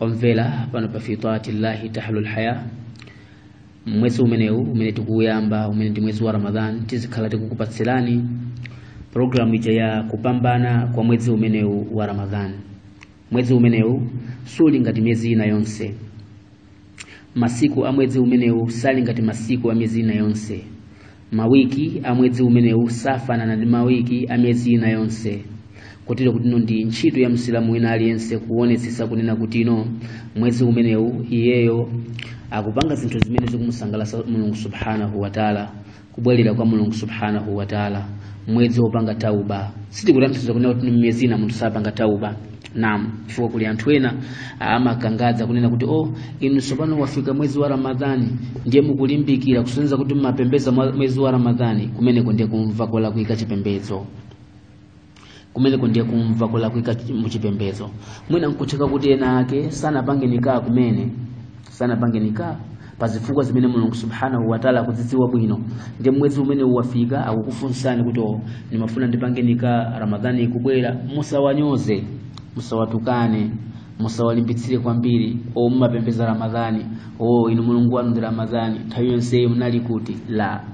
omvera pano pa fi taatillahi tahlul haya mmwezi umenewu umene tikuuyamba umene ndi mwezi wa ramadan tizikhala tikukupatsirani programu ija ya kupambana kwa mwezi umenewu wa ramadan mwezi umenewu suli ngati miyezi ina yonse masiku a mwezi umenewu sali ngati masiku a miyezi ina yonse mawiki a mwezi umenewu safanana ndi mawiki a miyezi ina yonse kotero kuti ino ndi ntchito ya msilamu wina aliyense kuonetsetsa kunena kuti ino mwezi umenewu iyeyo akupanga zinthu zimene zikumusangalatsa mulungu subhanahu wataala kubwerera kwa mulungu subhanahu wataala mwezi wopanga tauba sitikutanthauza kunena kuti mmiyezi ina munthu sapanga tauba Naam, chifukwa kuli anthu ena amakangadza kunena kuti oh, inu tsopano wafika mwezi wa Ramadhani ndiye mukulimbikira kusonyeza kuti mumapembedza mwa- mwezi wa Ramadhani, kumeneko ndiye kumva kolakwika chipembedzo kumeneko ndiye kumva kolakwika chi- muchipembedzo mwina nkutheka kuti ena ake sanapange nikaa kumene sanapange nikah pa zifukwa zimene mulungu subhanahu wataala akuzidziwa bwino ndiye mwezi umene uwafika akukufunsani kuti "Oh, nimafuna ndipange nikah ramadhani ikubwera musawanyoze musawatukane musawalimbitsire kwambiri o mumapembeza ramadhani o inu mulungu wanu ndi ramadhani nthawi yonseyi munali kuti la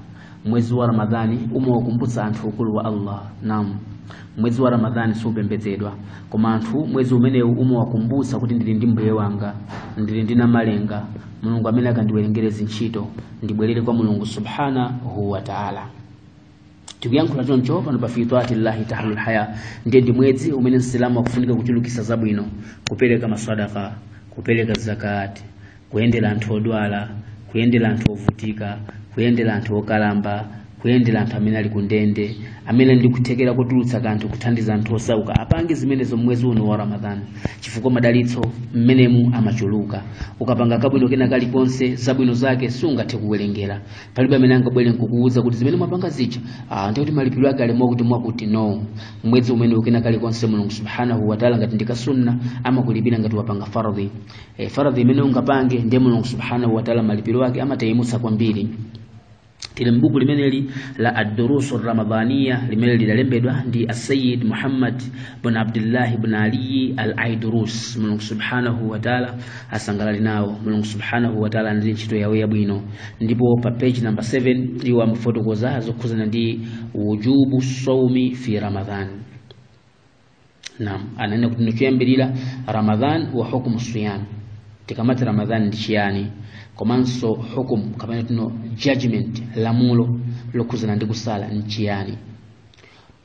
mwezi wa ramadhani umawakumbutsa anthu ukulu wa allah nam mwezi wa ramadhani supembedzedwa koma anthu mwezi umenewu umawakumbutsa kuti ndili ndi mbuye wanga ndili ndi namalenga mulungu amene akandiwerengere zintchito ndibwerere kwa mulungu subhanahu wa taala tikuyankhula choncho pano pa fi taatillahi tahlul haya ndiye ndi mwezi umene msilamu akufunika kuchulukisa zabwino kupereka maswadaka kupereka zakati kuyendera anthu odwala kuyendera anthu ovutika kuyendera anthu okalamba kuyendera anthu amene ali kundende amene ndi kuthekera kotulutsa kanthu kuthandiza anthu osauka apange zimenezo mwezi uno wa ramadhani chifukwa madalitso mmenemu amachuluka ukapanga kabwino kena kalikonse zabwino zake sungathe kuwerengera palibe amene angabwere nkukuwuza kuti zimene mwapanga zija ah, ndiye kuti malipiro ake ali mwakuti mwakuti no mwezi umene u kena kalikonse mulungu subhanahu wataala ngati ndi kasunna amakulipira ngati wapanga faradhi e, faradhi imene ungapange ndiye mulungu subhanahu wataala malipiro ake amatayimutsa kwambiri tili mbuku limeneli la ad-durusu ramadhaniya limene lidalembedwa ndi asayid muhammad bn abdillahi bn aliyi al aidurus mulungu subhanahu wataala asangalali nawo mulungu subhanahu wataala ndi ntchito yawo yabwino ndipo pa page number 7 iwo amafotokoza zokhuzana ndi wujubu saumi fi ramadhan naam ananena kuti nchoyambirira ramadhan wa hukumu siyam tikamati ramadhan ndi chiyani komanso hukum kapena kuti no judgment lamulo lokhuzana ndi kusala ndi chiyani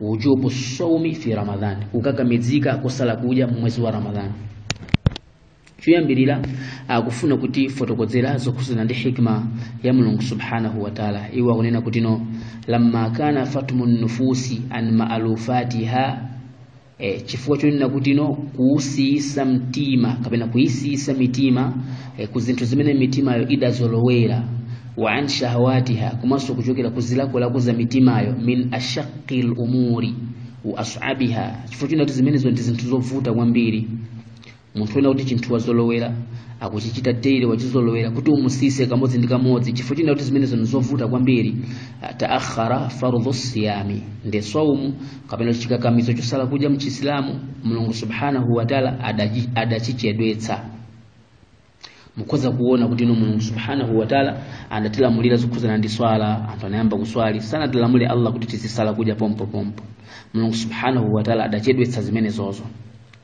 wujubu sawmi fi ramadhan kukakamizika kusala kudya mmwezi wa ramadhan choyambirira akufuna kutifotokozera zokhudzana ndi hikma ya mulungu subhanahu wa taala iwo akunena kuti no lamma kana fatmu nufusi an maalufatiha e, chifukwa chonena kuti no kuusiyisa mtima kapena kuisiyisa mitima e, ku zinthu zimene mitimayo idazolowera wa an shahawatiha komanso kuchokera ku zilakolako za mitimayo min ashaqi lumuri wa asabiha chifukwa chonena kuti zimenezo ndi zinthu zovuta kwambiri munthu wina kuti chinthu wazolowera akuchichita daily wachizolowera kuti umusiyitse kamodzi ndi kamodzi chifukwa chonena kuti zimenezo ndi zovuta kwambiri ah, taakhara fardhu siyami ndi saumu kapena chikakamizo chosala kudya mchisilamu mulungu subhanahu wataala adachi- adachichedwetsa mukhoza kuona kuti ino mulungu subhanahu wataala anatilamulira zokhudzana ndi swala anthu anayamba kuswali sanatilamule allah kuti tizisala kudya pompopompo mulungu subhanahu wataala adachedwetsa zimenezozo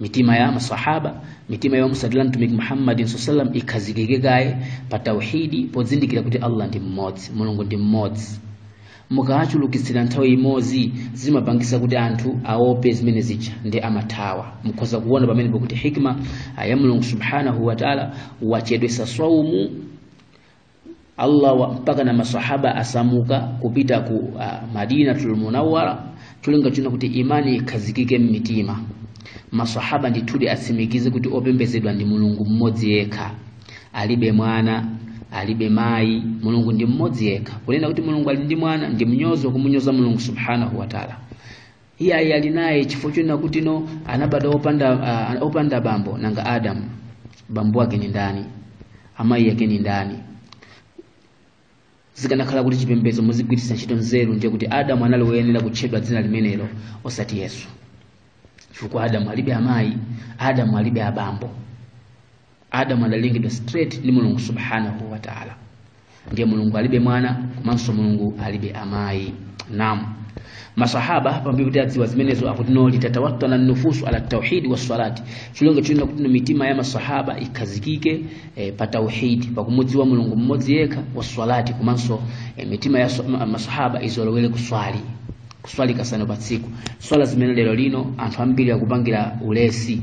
mitima ya masahaba mitima ya otsatira mtumiki muhammadin saa salam ikhazikike kaye pa tauhidi pozindikira kuti allah ndi mmodzi mulungu ndi mmodzi mukawachulukitsira nthawi imodzi zimapangisa kuti anthu aope zimene zija ndiye amathawa mukhoza kuona pamenepo kuti hikma ya mulungu subhanahu wataala wachedwetsa swaumu Allah wa, mpaka na masahaba asamuka kupita ku uh, Madinatul Munawwara cholinga chonena kuti imani ikhazikike mmitima masahaba ndithudi atsimikize kuti opembezedwa ndi mulungu mmodzi yekha alibe mwana alibe mayi mulungu ndi mmodzi yekha kunena kuti mulungu ali ndi mwana ndi mnyozo wakumunyoza mulungu subhanahu wa taala iyayi ali naye chifukwa chonena kuti no anabadwa opanda, uh, opanda bambo nanga adamu bambo ake ndi ndani amayi ake ndi ndani zikanakhala kuti chipembedzo muzigwiritsa ntchito nzeru ndiye kuti adamu anali woyenera kutchedwa dzina limenero osati yesu chifukwa adamu alibe amayi adamu alibe abambo adamu adalengedwa straight ndi mulungu subhanahu wa taala ndiye mulungu alibe mwana komanso mulungu alibe amayi naam masahaba pambuyo kuti adziwa zimenezo akuti no litatawattana nufusu ala tauhidi wassalati cholinga chonena kuti no mitima ya masahaba ikhazikike eh, pa tauhidi pakumudziwa mulungu mmodzi yekha wassalati komanso eh, mitima ya so- ma- masahaba izolowere kuswali kuswali kasanu pa tsiku swala zimene lero lino anthu ambiri akupangira ulesi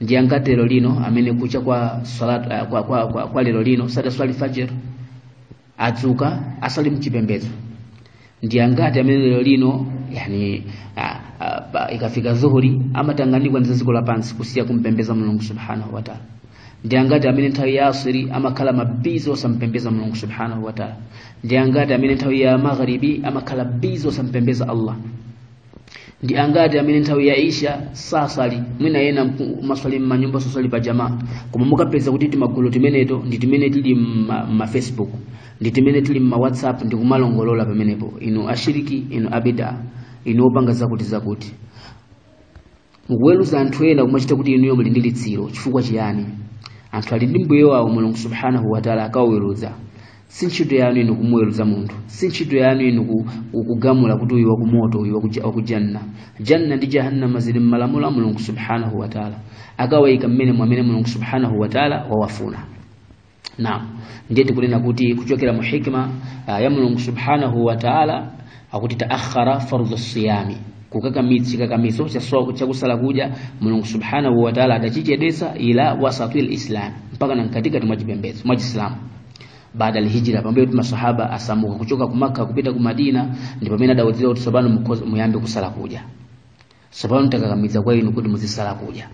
ndi angati lero lino amene kucha kwa salat uh, kwa, kwa, kwa, kwa lero lino sadaswali fajr adzuka asali mchipembedzo ndi angati amene lero lino yani uh, uh, ikafika zuhuri amatanganikwa ndi za dziko lapansi kusiya kumpembeza mulungu subhanahu wa taala ndi angati amene nthawi ya asiri amakhala mabizi osampembeza mulungu subhanahu wa taala ndi angati amene nthawi ya magharibi amakhala bizi osampembeza allah ndi angati amene nthawi ya isha saswali mwina ena mku- maswali m'manyumba soswali pa jamaa koma mukapeza kuti timagulu timeneto ndi timene tili mma- mma facebook ndi timene tili mma whatsapp ndi kumalongolola pamenepo inu ashiriki inu abida inu opanga zakuti zakuti mukuweruza anthu ena kumachita kuti inuyo muli ndi litsiro chifukwa chiyani anthu ali ndi mbuye wawo mulungu subhanahu wataala akawaweruza si ntchito yanu inu kumuweruza munthu si ntchito yanu inu ku- ku- kugamula kuti uyu wakumoto uyu wakuja- wakujanna janna ndi jahannama zili mmalamulo a mulungu subhanahu wataala akawayika mmene mwamene mulungu subhanahu wataala wawafuna naam ndiye tikunena kuti kuchokera mu hikma uh, ya mulungu subhanahu wa taala akuti taakhara fardhu siyami kukakamidzi kakamizo chakusala kudya mulungu subhanahu wa taala adachichedwetsa ila wasatil islam mpaka na mkatikati mwa chipembedzo cha chisilamu baada alhijra pambuyo kuti masahaba asamuka kuchoka ku Makka kupita ku Madina ndipo pamene adawudzira kuti tsopano muyambe kusala kudya tsopano takakamiza kwa inu kuti muzisala kudya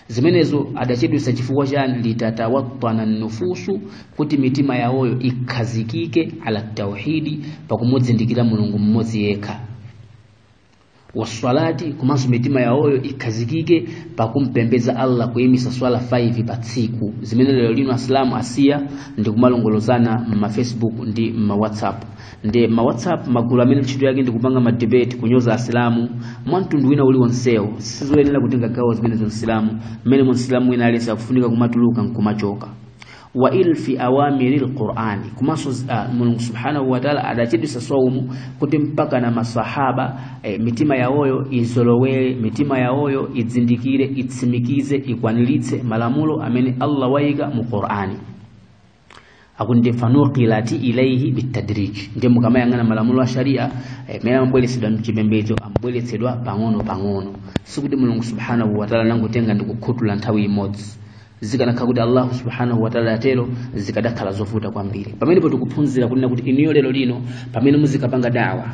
zimenezo adachedwetsa chifukwa chani litatawatana nufusu kuti mitima yawoyo ikhazikike ala tauhidi pakumudzindikira mulungu mmodzi yekha waswalati komanso mitima yawoyo ikhazikike pakumpembeza allah kuyimisa swala 5 pa tsiku zimene lero lino asilamu asiya ndi kumalongolozana m'mafacebook ndi m'mawhatsapp ndi ma whatsapp magulu amene ntchito yake ndi kupanga ma debate kunyoza asilamu mwa mtundu wina uli wonsewo sizoyenera kutenga gawo zimenezo msilamu mmene msilamu wina aliyense akufunika kumatuluka nkumachoka wa ilfi awamiri lqurani komanso uh, mulungu subhanahu wataala adachedwetsa saumu kuti mpaka na masahaba eh, mitima yawoyo izolowere mitima yawoyo idzindikire itsimikize ikwaniritse malamulo amene allah wayika mu qurani akuti nde fanuqilati ilaihi bitadrij ndiye mukamayang'ana malamulo a sharia amene amabweretsedwa mchipembedzo amabweretsedwa pang'ono pang'ono sikuti mulungu subhanahu wataala anangotenga ndi kukhutula nthawi imodzi zikanakhala kuti allahu subhanahu wataala adatero zikadakhala zovuta kwambiri pamenepo tikuphunzira kunena kuti inuyo lero lino pamene muzikapanga dawa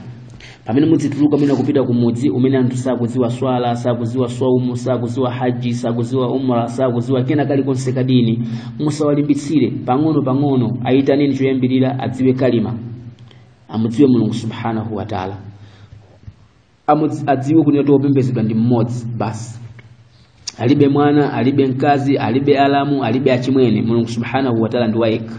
pamene mudzituluka mwina kupita ku mudzi umene anthu sakuziwa swala sakuziwa swaumu sakuziwa haji sakuziwa umra sakuziwa kena kalikonse kadini musawalimbitsire pang'ono pang'ono ayitaneni choyambirira adziwe kalima amudziwe mulungu subhanahu wa taala Amudzi- adziwe kunena kuti wopembezedwa ndi mmodzi basi alibe mwana alibe mkazi alibe alamu alibe achimwene mulungu subhanahu wa taala ndi wayekha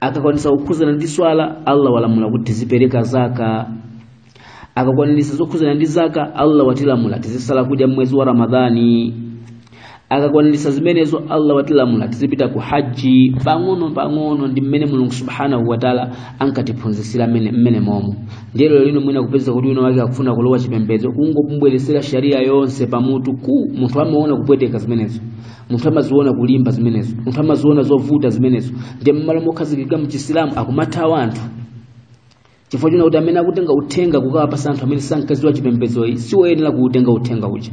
akakwanisa kukhuzana ndi swala allah walamula kuti tizipereka zaka akakwanisa zokhuzana ndi zaka allah watilamula tizisala kudya mmwezi wa ramadhani akakwanisa zimenezo allah watilamula tizipita ku haji pang'ono pang'ono ndi mmene mulungu subhanahu wataala ankatiphunzitsira mmene momo ndiye lero lino mwina kupeza kuti wina wake akufuna kulowa chipembedzo kungomubweresera sharia yonse pamutu ku munthu amaona kupweteka zimenezo munthu amaziona kulimba zimenezo munthu amaziona zovuta zimenezo ndiye mmalo mokhazikika mchisilamu akumathawa anthu chifukwa choona kuti amene akutenga uthenga kukawapasa anthu amene sankadziwa chipembedzoyi si woyenera kuutenga uthenga uja